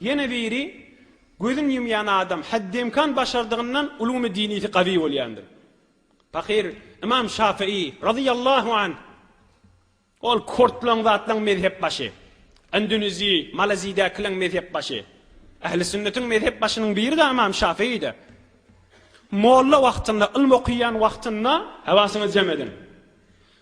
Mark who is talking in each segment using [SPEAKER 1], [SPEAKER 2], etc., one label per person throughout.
[SPEAKER 1] Ýene biri, Gözün ýumýan adam heddemkan başardygyndan uluny dinisi gawy bolýandyr. Pahyr Ymam Şafyý, razyýallahu anh, Ol kortlaň zatlaň mezhep başy. Indonezi, Malezidäkileň mezhep başy. Ähli sünnetiň mezhep başynyň biri-de Ymam Şafyýdy. Molla wagtynda, ylm okaýan wagtynda, Hawasyňyzy jem ediň.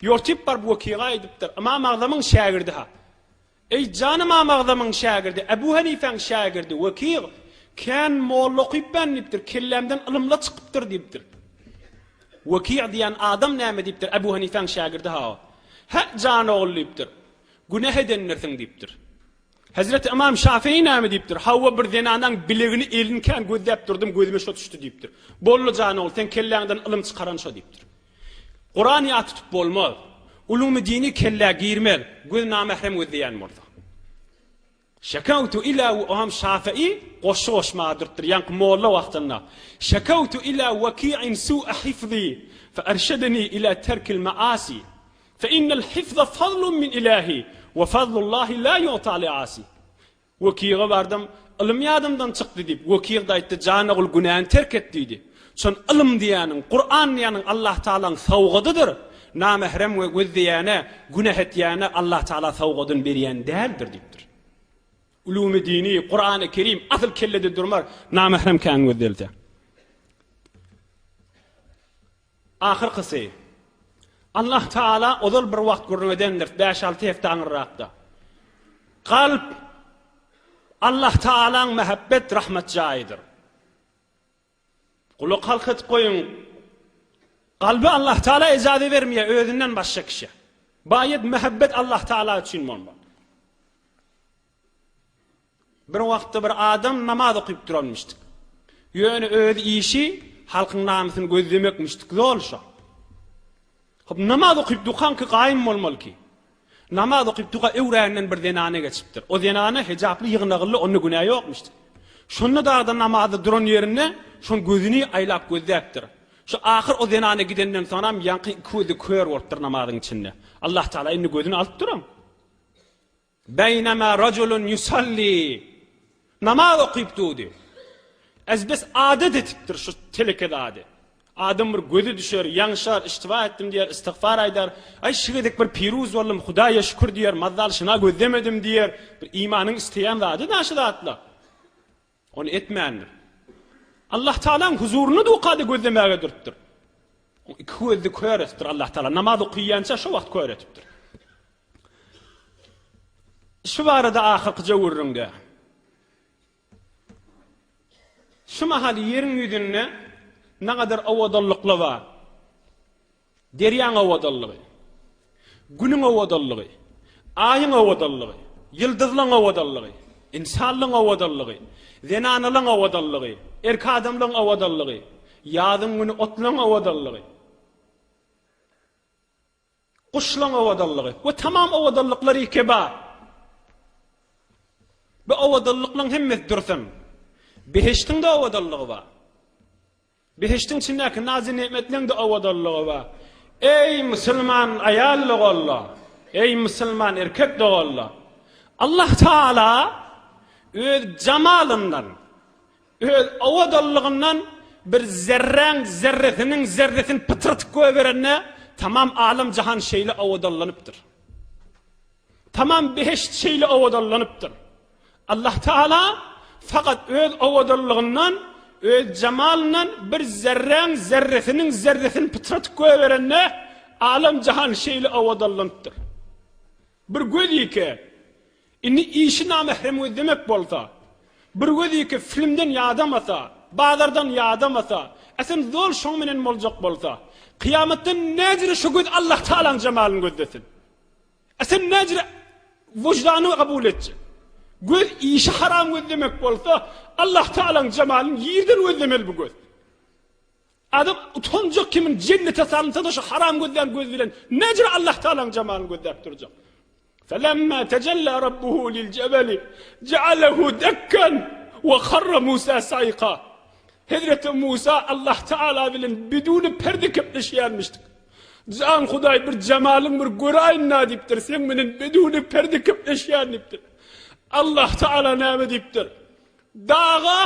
[SPEAKER 1] Ýotip baryp wekiga aýdypdyr, Ymam Agzamyň şägirdi-ha. Eý, jan Ymam Agzamyň şägirdi, Ebu Henifäň şägirdi, wekig, kän molla okypmän diýipdir, kellämden ylymla çykypdyr diýipdir. Weki diýen adam näme diýipdir, Ebu Henifäň şägirdi-ha o. Hä, jan ogul diýipdir, günäh edendirsiň diýipdir. Hezreti Ymam Şafyý näme diýipdir? Hawa, bir zenanaň bilegini elin kän gözläp durdum, gözüme şo düşdi diýipdir. Boldy jan ogul, seň kelläňden ylym çykaran şo diýipdir. Kuran ýat tutup bolmaz. Ulumy dini kellä girmez, göz namährem gözleýän bolsa. Şekawtu ila we Ymam Şafyý goşgy goşmaga durupdyr, ýaňky molla wagtynda. Şekawtu ila Waki'in su'a hifzi, fe erşedeni ila terkil ma'asi. Fe innel hifza fazlun min ilahi we fazlullahi la yu'ta li asi. Wekiga bardym, Ylym ýadymdan çykdy diýip, wekig-de aýtdy, Jan ogul günäni terk et diýdi. Şon ylym diýýäniň, Kuran diýýäniň Allah Tagalaň sowgadydyr. Namährem we gözleýäne, günäh etýäne Allah Tagala sowgadyny berýän däldir diýipdir. Ulumy dini, Kurany Kerim asyl kellede durmar, namährem kän gözlelse. Ahyrkysy, Allah Taala ozal bir wagt gürrüň edendir, bäş-alty hepde aňyrrakda. Kalp Allah Taalaň mähebbet, rahmet jaýydyr. Gulak halk edip goýuň, Kalby Allah Taala ejaze bermeýär özünden başga kişä. Baýat mähebbet Allah Taala üçin bolmaly. Bir wagtda bir adam namaz okyp duranmyşdyk. Ýöne öz işi halkyň namysyny gözlemekmişdik zol şo. Hop namaz okyp dukanki gaýym bolmalyki. Namaz okyp duka öwränden bir zenana geçipdir. O zenana hejaply ýygnagylly onda günä ýokmuşdyk. Şonda dagda namazda duran ýerinde şon gözüni aýlap gözläpdir. Şu ahyr o zenana gidenden soňam ýaňky iki gözi kör bolupdyr namazyň içinde. Allah Taala indi gözüni alypdyram. Beýnema rajulun ýusalli, namaz okyp durdy. Ez biz adat etipdir şu teleke zady. Adam bir gözi düşer, ýaňşar, iştiba etdim diýer, istigfar aýdar. Aý şu gezek bir piruz boldum, Hudaýa şükür diýer, mazzal şyna gözlemedim diýer. Bir imanyň isleýän zady-da şu zatlar. Ony etmändir. Allah Tagalaň huzuryny dukada gözlemäge durupdyr. Oň iki gözli kör etipdir Allah Tagala. Namaz okyýança şo wagt kör etipdir. Şu barada ahyrky jöwürriňde Şu mahal ýeriň ýüzünde nägadar owadanlyklar bar. Derýaň owadanlygy, Günüň owadanlygy, Aýyň owadanlygy, ýyldyzlaň owadanlygy, ynsanlaň owadanlygy, zenanalaň owadanlygy, erk adamlaň owadanlygy, ýazyň güni otlaň owadanlygy, guşlaň owadanlygy we tamam owadanlyklar iki bar. Bu owadanlyklaň hemmesi dursun. Behiştiň-de owadanlygy bar. Behiştiň içindäki nazy-negmetleň-de owadanlygy bar. Eý, musulman aýal doganlar! Eý, musulman erkek doganlar! Allah Tagala Öz jamalyndan, Öz owadanlygyndan bir zerräň zerresiniň zerresini pytratyp goýberende, tamam alem-jahan şeýle owadanlanypdyr. Tamam behişt şeýle owadanlanypdyr. Allah Tagala fakat Öz owadanlygyndan, Öz jemalyndan bir zerräň zerresiniň zerresini pytratyp goýberende alem-jahan şeýle owadanlanypdyr. Bir gözýike, indi işi namährem gözlemek bolsa, bir gözýike filmden ýadamasa, bazardan ýadamasa, äsem zol şoň menen boljak bolsa, kyýamatda näcire şo göz Allah Tagalaň jemalyny gözlesin? A sen näcire wyždanyňy kabul etjek? Göz işi haram gözlemek bolsa, Allah Tagalaň jemalyny ýerden gözlemeli bu göz. Adam utanjak kimin jennete salynsa-da şu haram gözlän göz bilen näcire Allah Tagalaň jemalyny gözläp durjak? Felemma tajalla rabbuhu lil jebeli ja'alahu dakkan we harra Musa sayqa. Hezreti Musa Allah Taala bilen biduni perde kepleşýärmişdik. Jan Hudaý bir jemalyň bir göräýin-ä diýipdir, seň menen bedewine perde kepleşýän diýipdir. Allahtagala näme diýipdir? Daga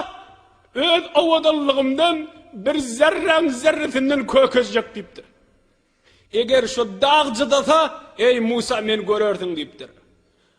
[SPEAKER 1] öz owadanlygymdan bir zerräň zerresinden kökezjek diýipdir. Eger şo dag cydasa, eý Musa, meni görersiň diýipdir.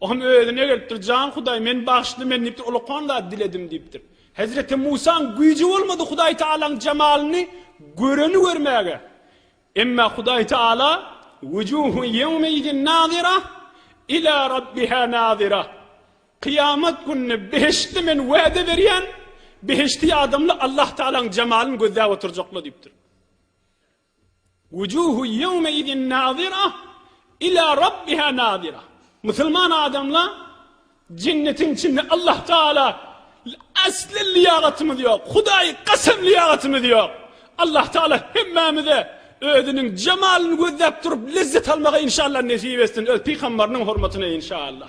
[SPEAKER 1] Oňam özüne gelipdir, Jan Hudaý, meni bagyşla, men diýipdir, ulakan zat diledim diýipdir. Hezreti Musaň güýji bolmady Hudaý Tagalaň jemalyny göreni görmäge. Emma Hudaý Tagala, Wujuhun ýewmeizin nazyra, ila Rabbiha nazyra, Kyýamat gününi behiştde men wäde berýän, behişdi ýadamly Allah Tagalaň jamalyny gözläp oturjaklar diýipdir. Wujuhun ýewmeidin nazira ila rabbiha nazira Musulman adamlar jennetiň içinde Allah Taala asly lyýagatymyz ýok, Hudaýy kasam lyýagatymyz ýok. Allah Taala hemmämize özüniň jemalyny gözläp durup lezzet almagy inşallah nesip etsin öz pygambarynyň hormatyna inşallah.